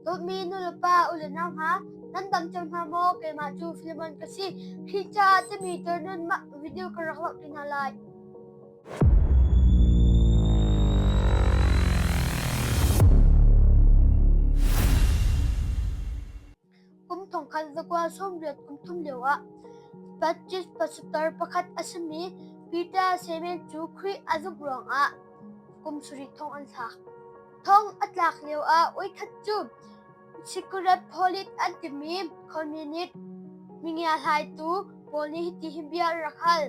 Dawtmi nulepa u le nau hna, nan dam cang hna maw? Keimah cu Filemon ka si. Hi caah timi tor nun mah video ka rak hlawh ti hna lai. Kum thongkhat zakuaa sawmriat kum thum lioah Baptist pastor pakhat a simi Peter Semen cu Khrih a zumh ruangah kum sarih thong an sa. Thong a tlak lioah oikhat cu Secret Polit an timi communist mingia hlaitu pawl nih hiti hin bia an rak hal.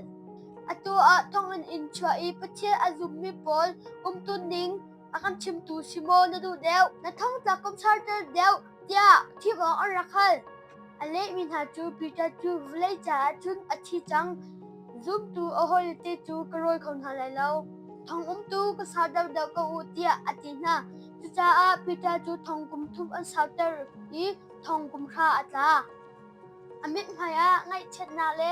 Atu ah thonginn in chuah i Pathian a zummi pawl umtuning a kan chimtu si maw na duh deuh? Na thongtlak kum sarter deuh tiah thim awk an rak hal. A lehmi hna cu Peter cu vawlei caah cun a thi cang. Zumtu a hawile cu ka rawi kho hna lai lo. Thong umtu ka sau deuhdeuh ko u tiah a ti hna. Cucaah Peter cu thongkum thum an sauter i thongkum hra a tla. A mithmai ah ngaihchiatnak le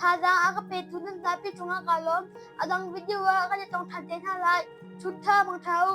Thazaang a ka petu nan zapi cungah kaa lawm. A dang video ah kan i tong ṭhan te hna lai. Chut ṭha bang ṭha u.